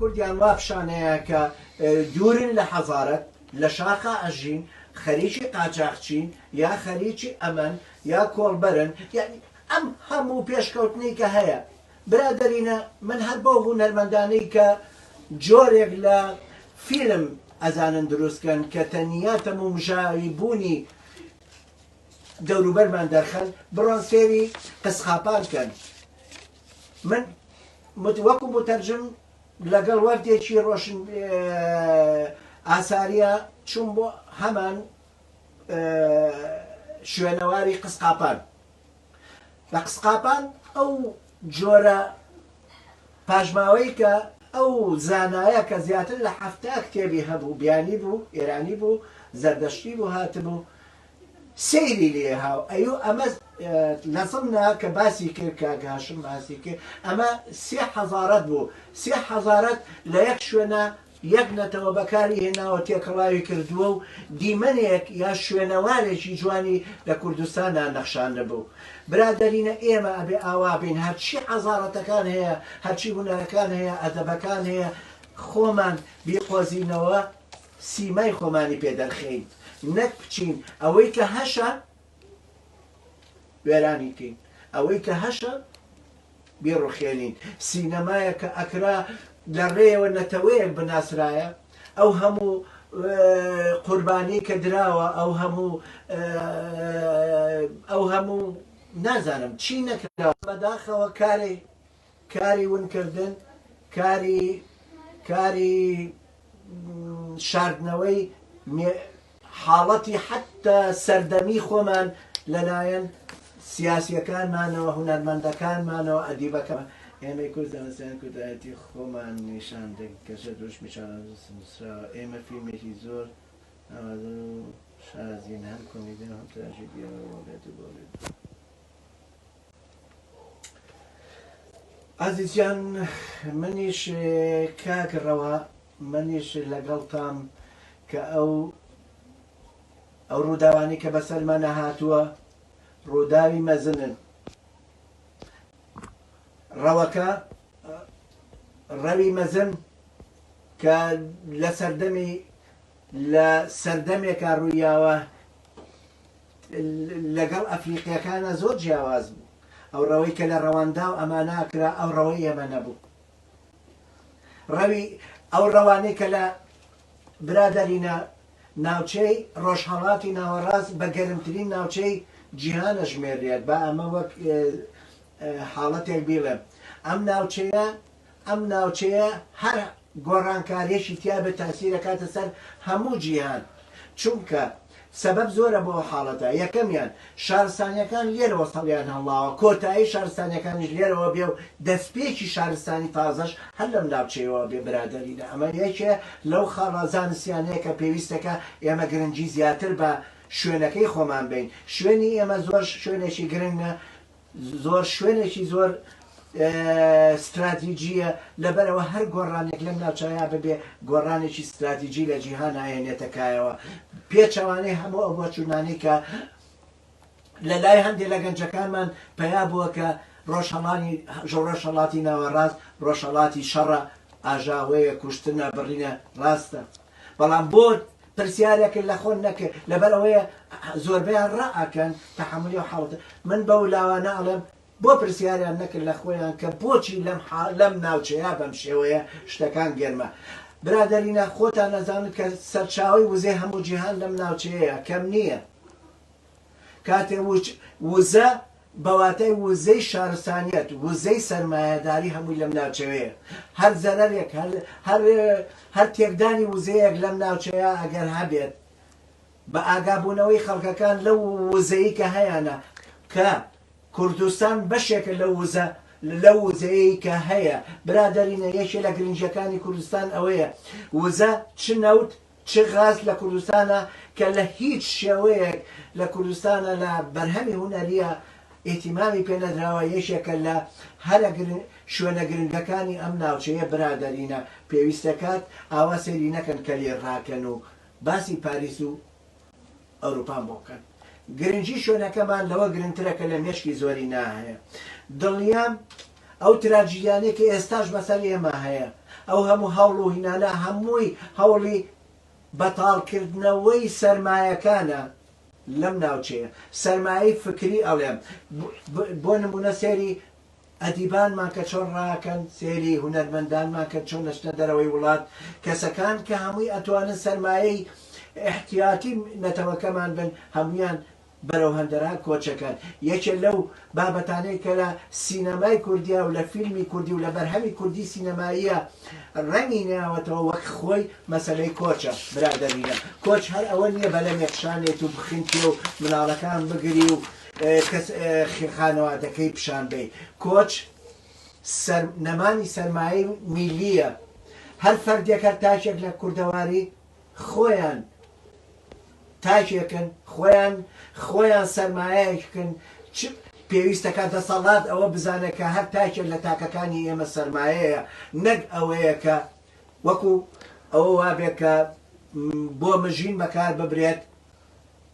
کوردیان وا پیشانەیە کە دوورن لە حەزارەت لە شاخا ئەژین خەریکی قاچاخچین یا خەریکی ئەمەن یا کۆڵبەرن یعنی ئەم هەموو پێشکەوتنی کە هەیە برادەرینە من هەر بەو هونەرمەندانەی کە جۆرێک لە فیلم ئەزانن دروست کەن کە تەنیا تەمومژاوی بوونی دەوروبەرمان دەرخەن بڕۆن سێری قسقاپان کەن من وەکو متەرجم لەگەڵ وەفدێکی ڕۆشن ئاساریە چوون بۆ هەمان شوێنەواری قسقاپان لە قسقاپان ئەو جۆرە پاشماوەی کە ئەو زانایە کە زیاتر لە حەفتا کتێبی هەبوو بیانی بوو ئێرانی بوو زەردەشتی بوو هاتبوو سەیری لێ هاو ئەیو ئەمە لە زمنا کە باسی کرد کاک هاشم باسی کرد ئەمە سێ حەزارەت بوو سێ حەزارەت لە یەک شوێنە یەک نەتەوە بەکاری هێناوە تێکەڵاوی کردووە و دیمەنێک یا شوێنەوارێکی جوانی لە کوردستاندا نەخشاندبوو. برادەرینە ئێمە ئەبێ ئاوا بین هەرچی حەزارەتەکان هەیە، هەرچی هونەرەکان هەیە، ئەدەبەکان هەیە خۆمان بیقۆزینەوە سیمای خۆمانی پێ دەرخێین نەک بچین ئەوەی کە هەشە، وێرانی کەین ئەوەی کە هەشە بیڕوخێنین سینەمایە کە ئەکرا لە ڕێیەوە نەتەوەیەک بناسرایە ئەو هەموو قوربانی کە دراوە ئەو هەموو ئەو هەموو نازانم چی نەکراوە بەداخەوە کارێک کاری ونکردن، کاری کاری شاردنەوەی مێ حاڵەتی حەتتا سەردەمی خۆمان لە لایەن سیاسیەکانمانەوە، هونەرمەندەکانمانەوە، ئەدیبەکە ئێمەی کورد زانستیان کوردایەتی خۆمان نیشان دەین گەرچە دروشمی شانازیی نووسراوە ئێمە فیلمێکی زۆر ناوازەو شازین هەم کۆمیدیەو هەم تراژیدیەو بۆ بێت و بۆ بێت. ئازیز جان منیش کاک ڕەوا منیش لەگەڵ تام کە ئەو ئەو ڕووداوانی کە بەسەرمانە هاتووە ڕووداوی مەزنن ڕەوەکە ڕەوی مەزن کە لە سەردەمی لە سەردەمێکا ڕوویاوە لەگەڵ ئەفریقیەکانا زۆر جیاواز بوو ئەو ڕەوەی کە لە ڕەوانداو ئەمانا کرا ئەو ڕەوەی ئێمە نەبوو ڕەوی ئەو ڕەوانەی کە لە برادەرینا ناوچەی ڕۆژهەڵاتی ناوەڕاست بە گەرمترین ناوچەی جیهانە ژمێرێت با ئەمە وەک حاڵەتێک بیڵێم ئەم ناوچەیە ئەم ناوچەیە هەر گۆڕانکاریەکی تیابێت تاسیرەکاتە سەر هەموو جیهان چونکە سەبەب زۆرە بۆ حاڵەتە یەکەمیان شارستانیەکان لێرەوە سەڕیان هەڵناوە کۆتایی شارستانیەکانیش لێرەوە بێ و دەستپێکی شارستانی تازەش هەر لەم ناوچەیەوە بێ برادەرینە ئەمە یەکێ لەو خاڵە زانستیانەیە کە پێویستە کە ئێمە گرنگی زیاتر بە شوێنەکەی خۆمان بەین شوێنی ئێمە زۆر شوێنێکی گرنگە زۆر شوێنێکی زۆر ستراتیجییە، لەبەرئەوە هەر گۆڕانێک لەم ناوچەیا ببێ گۆڕانێکی ستراتیجی لە جیهان ئایەنێتە کایەوە، پێچەوانەی هەموو ئەو بۆچوونانەی کە لە لای هەندێ لە گەنجەکانمان پەیا بووە کە ڕۆژهەڵانی ڕۆژهەڵاتی ناوەڕاست ڕۆژهەڵاتی شەڕە، ئاژاوەیە، کوشتنە، بڕینە، ڕاستە، بەڵام بۆ پرسیارێکن لە خۆن نەکرد لەبەر ئەوەیە زۆربەیان ڕا ئەکەن تەحەمولی ئەو حاڵەتە من بەو لاوانە ئەڵێم بۆ پرسیاریان نەکرد لە خۆیان کە بۆچی لەم حا لەم ناوچەیە بەم شێوەیە شتەکان گەرمە برادەرینە خۆتان ئەزانن کە سەرچاوەی وزەی هەموو جیهان لەم ناوچەیەیە کەم نییە. کاتێ وچ، وزە، بە واتای وزەی شارستانیەت، وزەی سەرمایەداری هەمووی لەم ناوچەوەیە. هەر زەرەرێک، هەر هەر هەر تێکدانی وزەیەک لەم ناوچەیە ئەگەر هەبێت، بە ئاگابوونەوەی خەڵکەکان لەو وزەی کە هەیانە، کە کوردستان بەشێکە لەو وزە لەو وزەیەی کە هەیە، برادەرینە یەکێ لە گرنگیەکانی کوردستان ئەوەیە، وزە چ نەوت، چ غاز لە کوردستانە کە لە هیچ شێوەیەک لە کوردستانە لە بەرهەمی هونەریە ئیتیمامی پێ نەدراوە یەکێکە لە هەرە گرنگ شوێنە گرنگەکانی ئەم ناوچەیە برادەرینە پێویستەکات ئاوا سەیری نەکەن کەلێ ڕاکەن و باسی پاریس و ئەوروپان بۆ بکەن گرنگی شوێنەکەمان لەوە گرنگترە کە لە مێشکی زۆری ناهەیە دڵنیام ئەو تراجیدیانەی کە ئێستاش بەسەر ئێمە هەیە ئەو هەموو هەوڵ و هینانە هەمووی هەوڵی بەتاڵکردنەوەی سەرمایەکانە لەم ناوچەیە سەرمایەی فکری ئەڵێم بۆ نمونە سێری ئەدیبانمان کە چۆن ڕاکەن سێری، هونەرمەندانمان کە چۆن ئەچنە دەرەوەی وڵات، کەسەکان کە هەمووی ئەتوانن سەرمایەی ئیحتیاتی نەتەوەکەمان بن، هەموویان بەرەو هەندەران کۆچەکەن. یەکێ لەو بابەتانەی کە لە سینەمای کوردیا و لە فیلمی کوردی و لە بەرهەمی کوردی سینەماییا ڕەنگی نەیاوەتەوە وەک خۆی مەسەلەی کۆچە. برادەرینە کۆچ هەر ئەوە نیە بەلەمێک شانێت و بخنکێ و مناڵەکان بگری و کەس خانەوادەکەی پیشان بەی کۆچ سەر نەمانی سەرمایەی میلیە هەر فەردێک هەر تاکێک لە کوردەواری خۆیان تاکێکن خۆیان خۆیان سەرمایەکن پێویستەکە دەسەڵات ئەوە بزانێت کە هەر تاکێک لە تاکەکانی ئێمە سەرمایەیە نەک ئەوەیە کە وەکو ئەوە وابێت کە بۆ مژین بەکار ببرێت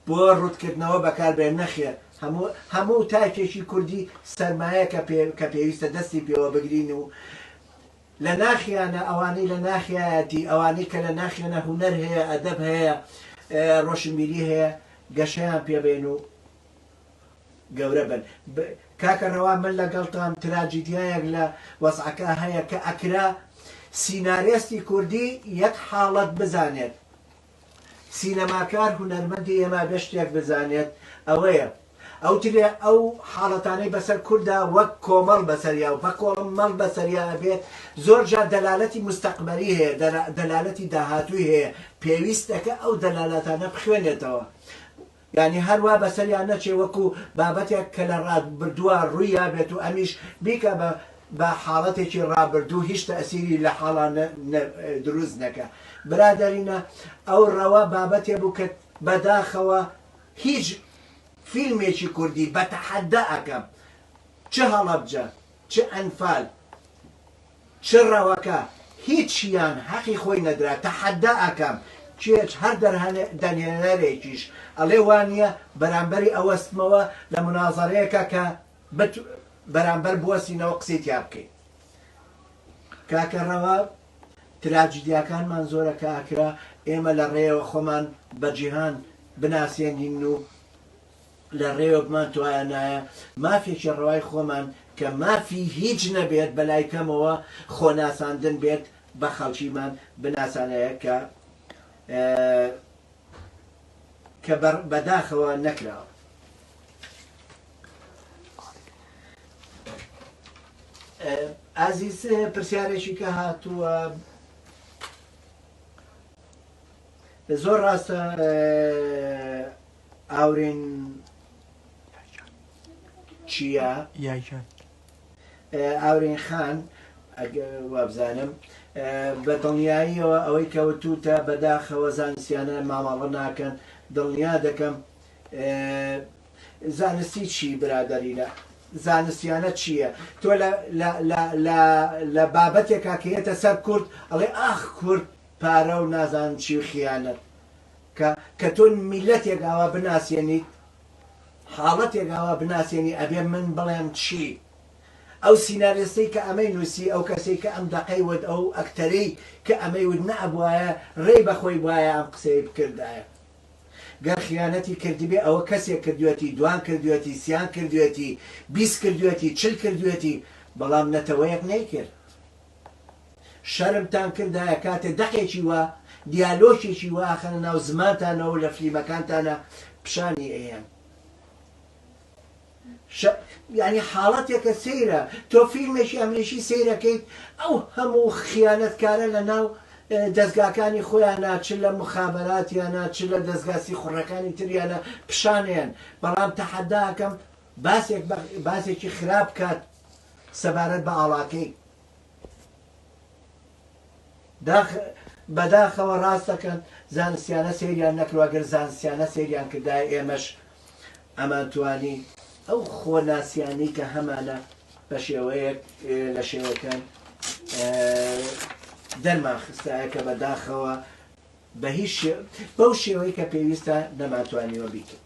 بۆ ڕوتکردنەوە بەکاربێت نەخێر هەموو هەموو تاکێکی کوردی سەرمایە کە پێ کە پێویستە دەستی پێوە بگرین و لە ناخیانە ئەوانەی لە ناخیایەتی ئەوانەی کە لە ناخیانە هوەر هەیە ئەدەب هەیە ڕۆشنبیری هەیە گەشەیان پێبێن و گەورە بن کاکە ڕەوا من لەگەڵتان تراجیدیایەک لە وەزعەکە هەیە کە ئەکرا سینارێستی کوردی یەک حاڵەت بزانێت سینەماکار هونەرمەندی ئێمە گەر شتێک بزانێت ئەوەیە ئەوترێ ئەو حاڵەتانەی بەسەر کوردا وەک کۆمەڵ بەسەریا و بەکۆڵمەڵ بەسەریا ئەبێت زۆر جار دەلالەتی موستەقبەلی هەیە دەلالەتی داهاتووی هەیە پێویستەکە ئەو دەلالاتانە بخوێنێتەوە یانی هەر وا بەسەریا نەچێ وەکو بابەتێک کە لە ڕابردووا ڕوویا بێت و ئەمیش بیکا بە بە حاڵەتێکی ڕابردوو هیچ تەئسیری لە حاڵا نە نە دروست نەکا برادەرینە ئەو ڕەوە بابەتێ بوو کە بەداخەوە هیچ فیلمێکی کوردی بە تەحەددا ئەکەم چ هەڵەبجە چ ئەنفال چ ڕەوەکە هیچیان هەقی خۆی نەدرا تەحەدا ئەکەم کێچ هەر دەرهەنێنەرێکیش ئەڵێ وانیە بەرامبەری ئەوەستمەوە لە منازەرەیەکا کە بت بەرامبەر بوەستینەوە قسەی تیا بکەی کاکە ڕەوە تراجیدیاکانمان زۆرە کە ئەکرا ئێمە لە ڕێیەوە خۆمان بە جیهان بناسێنین و لە ڕێۆکمان توایانایە مافێکی ڕەوای خۆمان کە مافی هیچ نەبێت بە لای کەمەوە خۆ ناساندن بێت بە خەڵکیمان بناسانایە کە کە بە بە داخەوە نەکراوە. ئازیز پرسیارێکی کە هاتووە زۆر ڕاستە ئاورێن چیا یاجان ئاورێن خان وابزانم بە دڵنیاییەوە ئەوەی کەوتوتە بەداخەوە زانستیانە مامەڵە ناکەن دڵنیا دەکەم زانستی چی برادەرینە زانستیانە چییە تۆ لە بابەتێکا کەێتە سەر کورد ئەڵێ ئاخ کورد پارە و نازان چی خیانەت کە کە تۆ میلەتێک ئاوا بناسێنیت حاڵەتێک ئاوا بناسێنی ئەبێ من بڵێم چی ئەو سیناریستەی کە ئەمەی نووسی ئەو کەسەی کە ئەم دەقەی وت ئەو ئەکتەرەی کە ئەمەی وت نەئەبوایە ڕێی بەخۆی بایە ئەم قسەی بکردایە گەر خیانەتی کردبێ ئەوە کەسێک کردوێتی دوان کردوێتی سیان کردوێتی بیست کردوێتی چل کردوێتی بەڵام نەتەوەیەک نەیکرد شەرمتان کردایە کاتێ دەقێکی وا دیالۆکێکی وا ئەخەنە ناو زمانتانەوەو لە فلیمەکانتانا پشانی ئەیەن یعنی حاڵەتێکە سەیرە تۆ فیلمێکی ئەمریکی سەیرەکەیت ئەو هەموو خیانەتکارە لە ناو دەستگاکانی خۆیان ناچ لە مخابرات یا ناچ لە دەستگاسی خوڕەکانی تریانە پیشانیان بەڵام تەحەداکەم باسێک باسێکی خراپ کات سەبارەت بە ئاڵاکەی داخ بەداخەوە ڕاست دەکەن زانستیانە سەیریان نەکروا گەر زانستیانە سەیریان کردای ئێمەش ئەمان توانی ئەو خۆناسیانی کە هەمانە بە شێوەیەک لە شێوەکان دەرمان خستایە کە بەداخەوە بە هیچ بەو شێوەی کە پێویستە نەماتوانیوە بیکرد